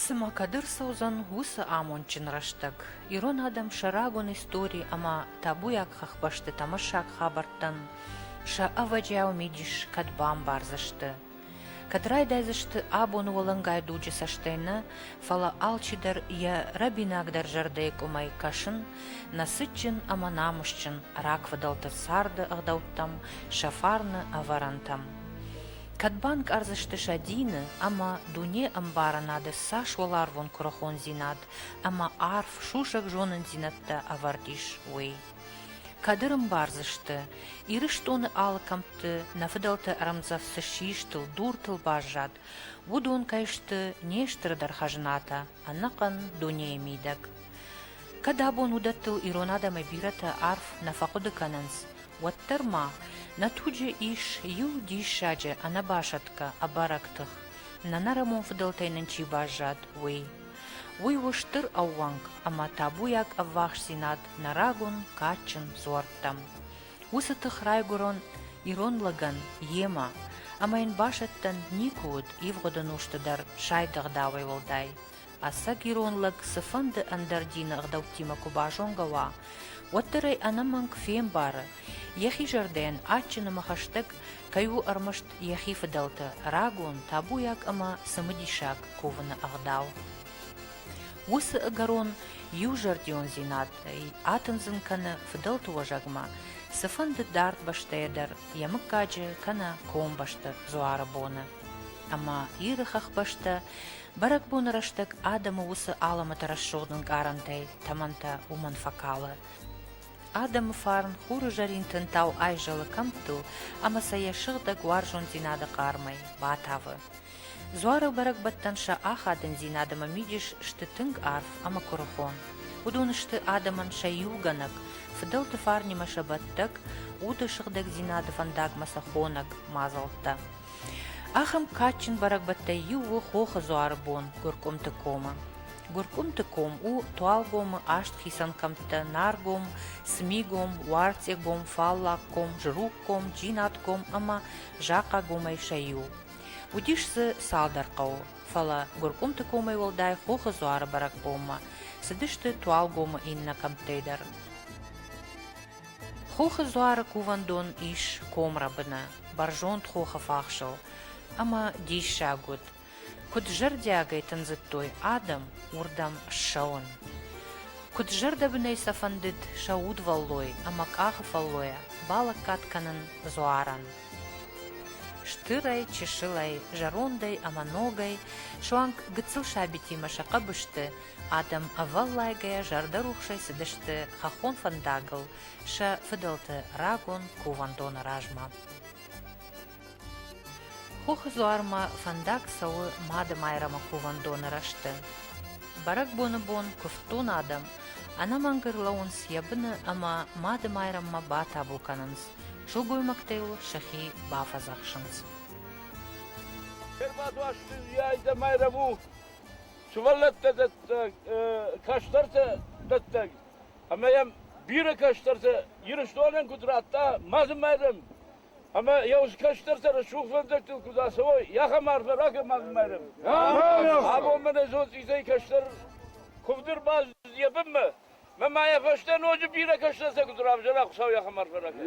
Цымӕ кӕд ӕрцӕудзӕн уыцы амондджын рӕстӕг, ирон адӕм сӕ рагон истори ӕмӕ табуйаг хӕхбӕсты тӕмӕссаг хабӕрттӕн сӕ ӕвӕджиау мидис кӕд бамбардзысты, кӕд райдайдзысты абоны уӕлӕнгай дуджы цӕстӕй нӕ, фӕлӕ алчидӕр йӕ рӕбинагдӕр зӕрдӕйы къуымӕй кӕсын, нӕ цытджын ӕмӕ намысджын рагфыдӕлты царды ӕгъдӕуттӕм, сӕ фарны ӕвӕрӕнтӕм. Кӕд банкъардзысты сӕ дины ӕмӕ дунейы ӕмбарынады цас уӕларвон куырыхондзинад ӕмӕ арф сусӕг зонындзинӕдтӕ ӕвӕрд ис, уый? Кӕд ӕрӕмбардзысты, Ирыстоны алы кӕмтты нӕ фыдӕлты ӕрӕмдзӕф цы систыл, дуртыл баззад, уыдон кӕй сты не стырдӕр хӕзнатӕ, ӕнӕхъӕн дунейы мидӕг? Кӕд абон уыдӕттыл ирон адӕмӕй бирӕтӕ арф нӕ фӕхъуыды кӕнынц, уӕддӕр ма нӕ туджы ис иу диссаджы ӕнӕбасӕтгӕ ӕбӕрӕг тых, нӕнӕрӕмон фыдӕлтӕй нын чи баззад, уый. Уый у стыр ӕууӕнк ӕмӕ табуйаг ӕввахсдзинад нӕ рагон кадджын дзуӕрттӕм. Уыцы тых райгуырон ирон лӕгӕн йемӕ, ӕмӕ йын басӕттӕн никуы уыд ивгъуыды нозты дӕр сайд ӕгъдауӕй уӕлдай. Ӕцӕг ирон лӕг цыфӕнды ӕндӕр дины ӕгъдӕуттимӕ куы базонгӕ уа, уӕддӕр ӕй ӕнӕмӕнг фембары, йӕхи зӕрдӕйӕн адджынымӕ хӕстӕг кӕй у ӕрмӕст йӕхи фыдӕлты рагон, табуйаг ӕмӕ цымыдисаг кувыны ӕгъдау. Уыцы ӕгӕрон иузӕрдиондзинадӕй атындзын кӕны фыдӕлты уӕзӕгмӕ, цыфӕнды дард бӕстӕйӕ дӕр йӕ мыггаджы кӕнӕ комбӕсты дзуары боны. Ӕмӕ Иры хӕхбӕстӕ Бӕрӕгбоны рӕстӕг адӕмы уыцы алӕмӕты рӕсугъд ӕнкъарӕнтӕй тӕмӕнтӕ уымӕн фӕкалы. Адӕмы фарн хуры зӕрин тынтау айзӕлы кӕмттыл ӕмӕ сӕ йӕ сыгъдӕг уарзондзинады хъармӕй батавы. Дзуары бӕрӕгбӕттӕн сӕ ахадындзинад ӕмӕ мидис сты тынг арф ӕмӕ куырыхон. Уыдон сты адӕмӕн сӕ иугӕнӕг, фыдӕлты фарнимӕ сӕ бӕттӕг, уды сыгъдӕгдзинады фӕндагмӕ сӕ хонӕг мадзӕлттӕ. Ахӕм кадджын бӕрӕгбӕттӕй иу у Хохы дзуары бон Гуыркъуымты комы. Гуыркъуымты ком у Туалгомы аст хицӕн кӕмттӕ Наргом, Смигом, Уарцъегом, Фаллагком, Жругком, Джинатком ӕмӕ Захъагомӕй сӕ иу. Уыдис дзы цалдӕр хъӕуы, фӕлӕ Гуыркъуымты комӕй уӕлдай Хохы дзуары бӕрӕгбонмӕ цыдысты Туалгомы иннӕ кӕмттӕй дӕр. Хохы дзуары кувӕндон ис комрӕбыны, бӕрзонд хохы фахсыл, ӕмӕ диссаг уыд, куыд зӕрдиагӕй тындзыдтой адӕм уырдӕм ссӕуын. Куыд зӕрдӕбынӕй сӕ фӕндыд сӕ удвӕллой ӕмӕ къахы фӕллойӕ балӕггад кӕнын дзуарӕн. Стырӕй, чысылӕй, зӕрондӕй ӕмӕ ногӕй суанг гыццыл сабитимӕ сӕ хъӕбысты Адӕм ӕвӕллайгӕйӕ зӕрдӕрухсӕй цыдысты хӕххон фӕндагыл сӕ фыдӕлты рагон кувӕндоны размӕ. Хохы дзуармӕ фӕндаг цӕуы Мадымайрӕмы кувӕндоны рӕзты. Бӕрӕгбоны бон куывддон адӕм ӕнӕмӕнг ӕрлӕууынц йӕ быны ӕмӕ Мадымайрӕммӕ батабу кӕнынц, сылгоймӕгтӕ йыл сӕхи бафӕдзӕхсынц. Ӕрбадуасты йӕ айдӕмӕ рӕву. Сывӕллӕттӕ дӕттӕг кӕстӕртӕ дӕттӕг ӕмӕ йӕм бирӕ кӕстӕртӕ Ирыстонӕн куыд радта ма дзы Майрӕм ӕмӕ йӕ кӕстӕртӕ рӕсугъдвӕндӕгтыл куыд ацӕуой, ахӕм арфӕ ракӕн ма дзы Майрӕм. Абон мӕнӕ зоцъизӕй кӕстӕр куывд ӕрбаз йӕ бынмӕ. Мӕ ма йӕ фӕстӕ ноджы бирӕ кӕстӕртӕ куыд равзӕра Хуыцау, ахӕм арфӕ ракӕн.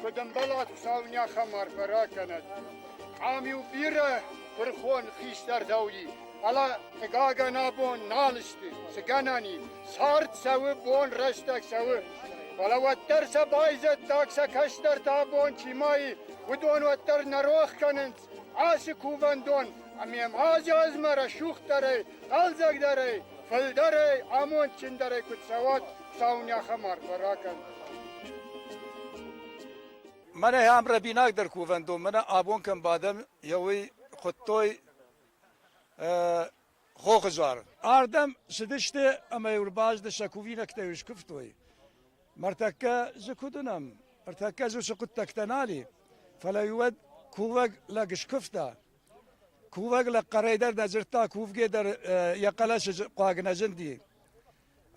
куд ӕмбӕлат саунӕхӕм арфӕ ракӕнӕд. Ам-иу бирӕ пырхон хистӕр дауди, фӕлӕ, хъыгагӕн, абон нал сты, цы гӕнӕни, цард цӕуы, бон рӕстӕг цӕуы. Фӕлӕ уӕддӕр сӕ байзӕддаг сӕ кӕстӕртӕ абон чи ма и, уыдон уӕддӕр нӕ рох кӕнынц ацы кувӕндон, ӕмӕ ма азы азмӕ рӕсугъддӕрӕй хъӕлдзӕгдӕрӕй, фылдӕрӕй, амондджындӕрӕй куыд цӕуӕт саунӕхӕм арфӕ ракӕн. Мӕнӕ ам рӕбинагдӕр кувӕндон, мӕнӕ абон кӕм бадӕм, йӕ уый хуыдтой хохызар. Ардӕм цыдысты ӕмӕ-иу рбазды сӕ кувинӕгтӕ-иу скуывтой. Мартӕккӕ дзы куыд уынӕм? Ӕртӕккӕ дзы цы хъуыддӕгтӕ нал и. Фӕлӕ-иу уӕд кувӕг лӕг скуывта. Кувӕг лӕг хъӕрӕй дӕр нӕ дзырдта, кувгӕ дӕр йӕ хъӕлӕсы хъуаг нӕ зынди.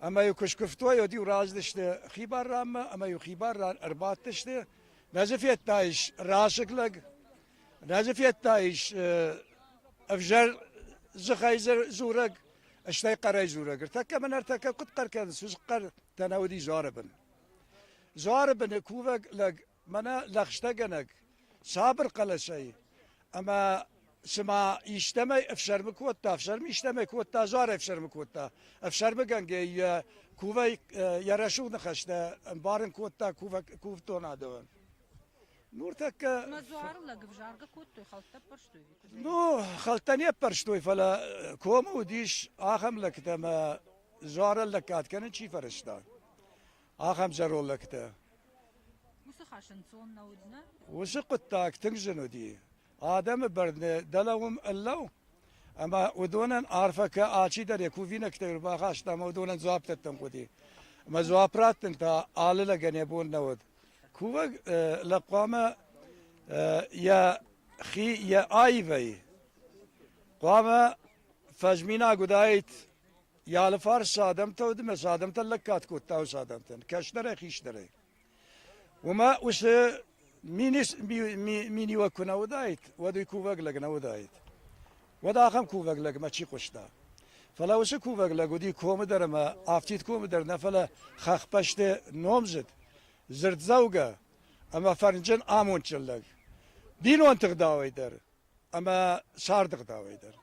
Ӕмӕ-иу куы скуывтой, уӕд-иу раздысты хибар ранмӕ ӕмӕ-иу хибар ран ӕрбадтысты. Нӕ дзы федтаис расыг лӕг, нӕ дзы федтаис ӕвзӕр дзыхӕй дзурӕг, стӕй хъӕрӕй дзурӕг. Ӕртӕккӕ мӕн ӕртӕккӕ куыд хъӕр кӕнынц, уыцы хъӕртӕ нӕ уыди дзуары бын. Дзуары быны кувӕг лӕг Мӕнӕ лӕгъстӕгӕнӕг сабыр хъӕлӕсӕй ӕмӕ цыма истӕмӕй ӕфсӕрмы кодта, ӕфсӕрм истӕмӕй кодта, дзуар ӕфсӕрмы кодта. Ӕфсӕрмыгӕнгӕ йӕ кувӕй йӕ рӕсугъд ныхӕстӕ ӕмбарын кодта кувдонадовӕн. Нуртӕккӕ... Мӕ дзуары лӕг ӕвзаргӕ кодтой, хӕлттӕ ӕппӕрстой? Ну, хӕлттӕ не ппӕрстой, фӕлӕ комы уыдис ахӕм лӕгтӕ, ӕмӕ дзуарӕн лӕггад кӕнын чи фӕрӕзта. ахӕм зӕролӕгтӕ. Уыцы хӕс ӕнцон нӕ уыдзынӕ? Уыцы хъуыддаг тынг зын уыди. Адӕмы бӕрны дӕлӕ уым ӕллӕу, ӕмӕ уыдонӕн арфӕ кӕ алчидӕр йӕ кувинӕгтӕй ӕрбахаста ӕмӕ уыдонӕн дзуапп дӕттын хъуыди. Ӕмӕ дзуапп раттын та алы лӕгӕн йӕ бон нӕ уыд. Кувӕг лӕг хъуамӕ йӕ хи йӕ аивӕй хъуамӕ фӕзминаг уыдаид Йӕ алыфарс цы адӕмтӕ уыд ӕмӕ цы адӕмтӕ лӕггад кодта уыцы адӕмтӕн, кӕсдӕрӕй, хисдӕрӕй. Уымӕ уыцы миниуӕг куы нӕ уыдаид, уӕд уый кувӕг лӕг нӕ уыдаид. Уӕд ахӕм кувӕг лӕгмӕ чи хъуыста? Фӕлӕ уыцы кувӕг лӕг уыди комы дӕр ӕмӕ афтид комы дӕр нӕ, фӕлӕ хӕхбӕсты номдзыд, дзырддзӕугӕ ӕмӕ фӕрнджын амондджын лӕг. Бинонты гъдауӕй дӕр ӕмӕ сӕрды ӕгъдауӕй дӕр.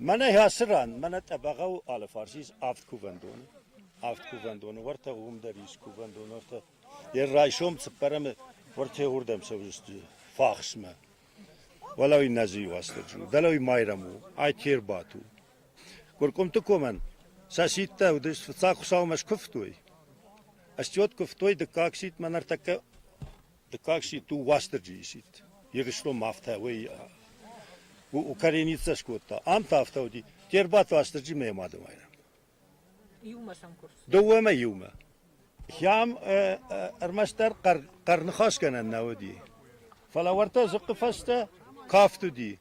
Мӕнӕ ацы ран мӕнӕ тъӕбӕгъау алыфарс ис авд кувӕндоны. Авд кувӕндоны, уӕртӕ уым дӕр ис кувӕндон, уӕртӕ йӕ райсом цыппӕрӕмы уӕртӕ уырдӕм цӕудзысты фахсмӕ. Уӕлӕ уый нӕ дзы иу хӕстӕджы у, дӕлӕ уый Майрӕм у, ай те рбадт у. Гуыркъуымты комӕн сӕ сидтӕ уыдис, фыццаг Хуыцаумӕ скуывтой. Ыстьот куывтой, дыккаг сидт мӕ ныртӕккӕ Дыккаг сидт у Уастырджи сидт. Ирыстонмӕ афтӕ уый укореницӕ скодта. Ам та афтӕ уыди. Те рбадт Уастырджи мӕ мады майрӕм. Иумӕ сӕм курс? Дыууӕмӕ иумӕ. Хӕм ӕрмӕстдӕр хъӕрныхасгӕнӕн нӕ уыди. Фӕлӕ уӕртӕ дзыхъхъы фӕстӕ кафт уыди.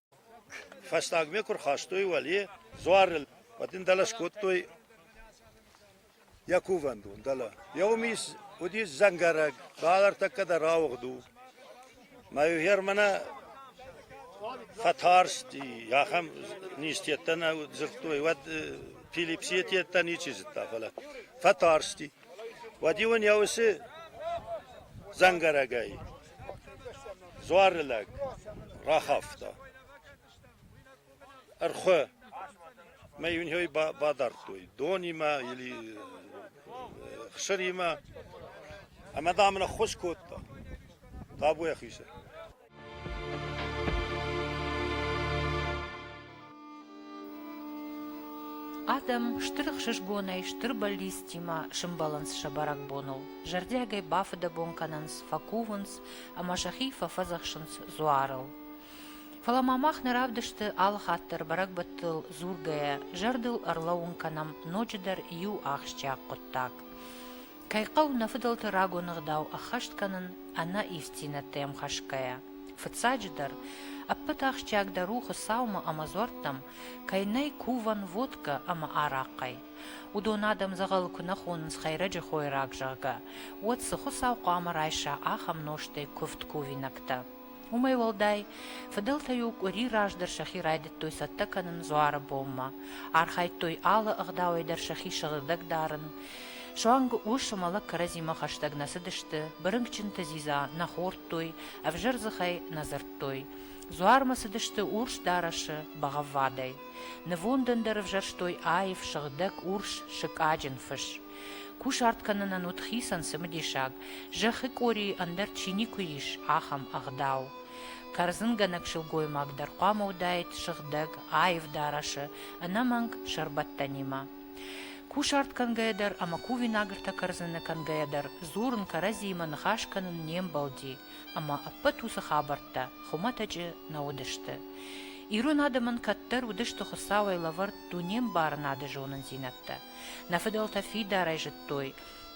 Фӕстагмӕ куы рхастой уӕле дзуарыл, уӕд ын дӕлӕ скодтой йӕ кувӕндон, дӕлӕ. Йӕ уымис уыдис дзӕнгӕрӕг, бал ӕртӕккӕ дӕр ауыгъд у. Мӕ фермӕ фӕтарсти, ахӕм низтеттӕ нӕ дзырдтой, уӕд Пилипсийы теттӕ ничи зыдта, фӕлӕ фӕтарсти. Уӕд-иу ын йӕ усы дзӕнгӕрӕгӕй Дзуары лӕг рахафта, ӕрхуы мӕ йын йой бадардтой донимӕ или хсыримӕ, ӕмӕ дам ын ӕххуыс кодта табу йӕхи сӕр. Адӕм стыр ӕхсызгонӕй стыр бӕллицтимӕ сӕмбӕлынц сӕ бӕрӕгбоныл, зӕрдиагӕй бафыдӕбон кӕнынц, фӕкувынц ӕмӕ сӕхи фӕфӕдзӕхсынц дзуарыл. Фӕлӕ ма мах нӕ равдысты алы хатт дӕр бӕрӕгбӕттыл дзургӕйӕ, зӕрдыл ӕрлӕууын кӕнӕм ноджыдӕр иу ахсджиаг хъуыддаг. Кӕй хъӕуы нӕ фыдӕлты рагон ӕгъдау ӕххӕст кӕнын ӕнӕ ивддзинӕдтӕм хӕсгӕйӕ. Фыццаджыдӕр, ӕппӕт ахсджиагдӕр у Хуыцаумӕ ӕмӕ дзуӕрттӕм, кӕй нӕй кувӕн водкӕ ӕмӕ арахъхъӕй. Уыдон адӕм дзӕгъӕлы куы нӕ хонынц Хӕйрӕджы хойраг, зӕгъгӕ, уӕд цы Хуыцау хъуамӕ райса ахӕм нозтӕй куывд кувинӕгтӕ? Уымӕй уӕлдай, фыдӕлтӕ-иу къуыри раздӕр сӕхи райдыдтой цӕттӕ кӕнын дзуары бонмӕ, архайдтой алы ӕгъдауӕй дӕр сӕхи сыгъдӕг дарын. Суанг ус ӕмӕ лӕг кӕрӕдзимӕ хӕстӕг нӕ цыдысты, бырынкъджынты дзидза нӕ хордтой, ӕвзӕр дзыхӕй нӕ дзырдтой. Дзуармӕ цыдысты урс дарӕсы бӕгъӕввадӕй. Нывондӕн дӕр ӕвзӕрстой аив, сыгъдӕг урс сыкъаджын фыс. Кусарт кӕнынӕн уыд хицӕн цымыдисаг, зӕххы къорийы ӕндӕр чи никуы ис, ахӕм ӕгъдау. Кӕрдзынгӕнӕг сылгоймаг дӕр хъуамӕ уыдаид сыгъдӕг, аив дарӕсы, ӕнӕмӕнг сӕрбӕттӕнимӕ. Кусарт кӕнгӕйӕ дӕр ӕмӕ кувинагыртӕ кӕрдзыны кӕнгӕйӕ дӕр дзурын кӕрӕдзиимӕ ныхас кӕнын не мбӕлди, ӕмӕ ӕппӕт уыцы хабӕрттӕ хуымӕтӕджы нӕ уыдысты. Ирон адӕмӕн кӕддӕр уыдысты Хуыцауӕй лӕвӕрд дунембарынады зонындзинӕдтӕ. Нӕ фыдӕлтӕ фидарӕй зыдтой,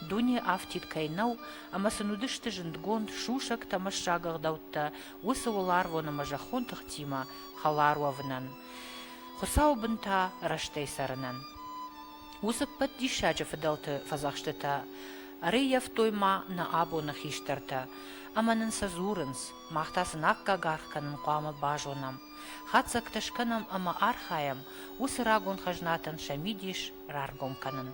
дуне афтид кӕй нӕу ӕмӕ сын уыдысты зындгонд сусӕгтӕ ӕмӕ сагыгъдӕуттӕ уыцы уыларвон ӕмӕ зӕххон тыхтимӕ хӕлар уӕвынӕн, Хуыцауы бын та рӕстӕй цӕрынӕн. Уыцы ӕппӕт диссаджы фыдӕлты фӕдзӕхстытӕ ӕрӕййӕфтой ма нӕ абоны хистӕртӕ, ӕмӕ нын сӕ дзурынц, мах та сын аккаг аргъ кӕнын хъуамӕ базонӕм. Хатдзӕгтӕ скӕнӕм ӕмӕ архайӕм уыцы рагон хӕзнатӕн сӕ мидис раргом кӕнын.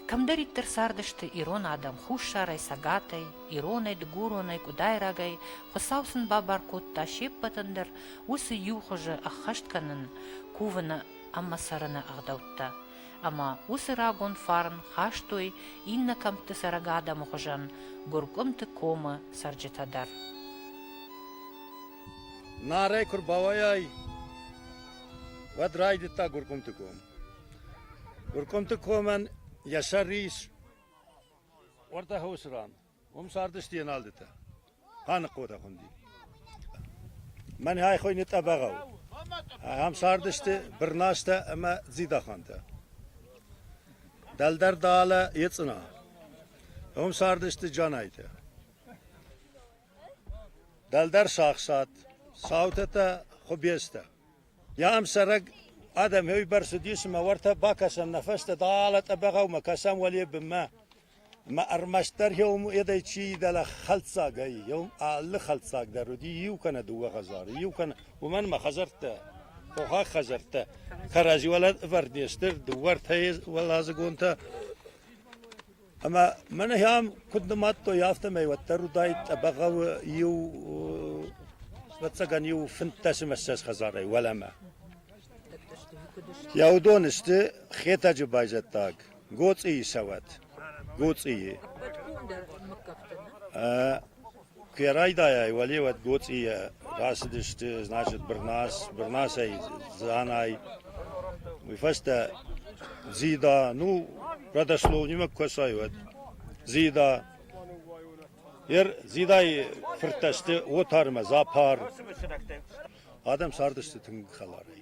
Кӕмдӕриддӕр цардысты ирон адӕм хуссарӕй, цӕгатӕй, иронӕй, дыгуронӕй, къуыдайрагӕй, Хуыцау сын бабар кодта се ппӕтӕн дӕр уыцы иу хуызы ӕххӕст кӕнын, кувыны ӕмӕ цӕрыны ӕгъдӕуттӕ. Ӕмӕ уыцы рагон фарн хастой иннӕ кӕмтты цӕрӕг адӕмы хуызӕн Гуыркъуымты комы цӕрджытӕ дӕр. Нарӕй куы рбауайай, уӕд райдыдта Гуыркъуымты ком. Гуыркъуымты комӕн йӕ сӕр ис уӕртӕ хосы ран. Уым цардысты Еналдытӕ. Ханыхъотӕ хуынди. Мӕн ай хойны тъӕбӕгау. Ахӕм цардысты Бырнастӕ ӕмӕ Дзидахантӕ. Дӕлдӕр Далӕ Ецъына. Уым цардысты Джанайтӕ. Дӕлдӕр сагсат, цаутӕтӕ, хуыбецтӕ. Ям цӕрӕг адӕм еуебӕрц уыдис, ӕмӕ уӕртӕ бакӕсӕм нӕ фӕстӕ дӕлӕ тъӕбӕгъӕумӕ, кӕсӕм уӕле бынмӕ. Ӕмӕ ӕрмӕстдӕр еум уӕдӕй чи и дӕлӕ хӕлддзаг ӕй. Еум алы хӕлддзаг дӕр уыди, иу кӕнӕ дыууӕ хӕдзары, иу кӕнӕ... Уымӕн ӕмӕ хӕдзӕрттӕ, тохаг хӕдзӕрттӕ кӕрӕдзи уӕлӕ ӕвӕрд не сты, дыууӕ-ӕртӕ уӕладзыгонтӕ Ӕмӕ мӕнӕ ам куыд нымадтой, афтӕмӕй уӕддӕр уыдаид Тъӕбӕгъӕуы иу ӕвӕццӕгӕн иу фынддӕсымӕссӕдз хӕдзарӕй уӕлӕмӕ. Йӕ уыдон сты Хетӕджы байзӕддаг, Гоцъийы цӕуӕт, Гоцъийы. Куы райдайай, уӕлеуӕд гоцъийӕ рацыдысты, значит, Бырнас, Бырнасӕй Дзанай, уый фӕстӕ Дзида, ну, родослов нимӕ куы кӕсай, уӕд Дзида. Йе р Дзидайы фырттӕ сты Отар ӕмӕ Запар. Адӕм цардысты тынг хӕларӕй.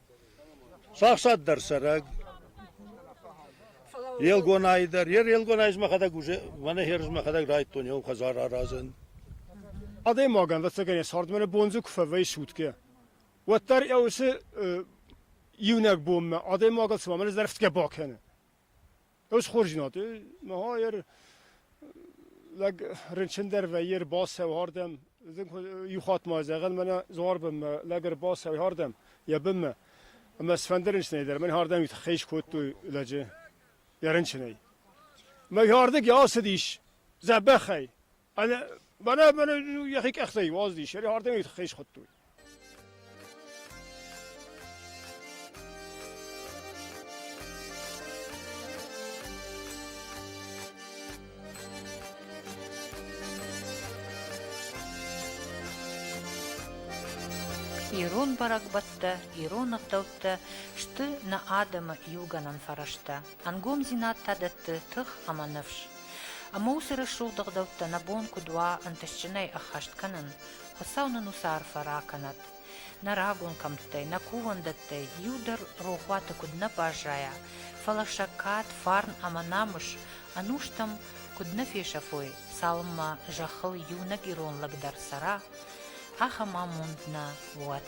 Сахсад дӕр цӕрӕг. Елгонайы дӕр. Йе Елгонайы мӕхӕдӕг уже, мӕнӕ херз мӕхӕдӕг райдтон еу хӕдзар аразын. Адӕймагӕн ӕцӕгӕн цардмӕ бонзы куы фӕвӕййы сутке, уӕддӕр ӕ уыцы иунӕг бонмӕ адӕймагыл цыма мӕ зӕрхтгӕ бакӕны. Ӕз хорзинад, мӕ ер лӕг рынчындӕр вӕййы, ӕрбацӕуы ардӕм. Иу хатт ма зӕгъӕн, мӕнӕ Дзуарбонмӕ лӕг ӕрбацӕуы ардӕм йӕ бынмӕ, ӕмӕ сфӕнды рынчынӕй дӕр. Мӕн ардӕм уый тыххӕй скодтой лӕджы йӕ рынчынӕй. Мӕ йӕ ардыг йӕ ацыдис дзӕбӕхӕй. Мӕнӕ мӕнӕ йӕхи къӕхтӕй уаздис, йӕ ардӕмӕй хӕй схуыдтой. Ирон бӕрӕгбӕттӕ, ирон ӕгъдӕуттӕ сты нӕ адӕмы иугӕнӕн фӕрӕзтӕ. Ӕнгомдзинад та дӕтты тых ӕмӕ ныфс. Ӕмӕ уыцы рӕсугъд ӕгъдӕуттӕ нӕ бон куыд уа ӕнтыстджынӕй ӕххӕст кӕнын, Хуыцау нын уыцы арфӕ ракӕнӕд. Нӕ рагон кӕмттӕй, нӕ кувӕндӕттӕй иу дӕр рохуаты куыд нӕ баззайа, фӕлӕ сӕ кад, фарн ӕмӕ намыс ӕнустӕм куыд нӕ фесӕфой, цалынмӕ зӕххыл иунӕг ирон лӕг дӕр цӕра, ахӕм амонд нӕ уӕд.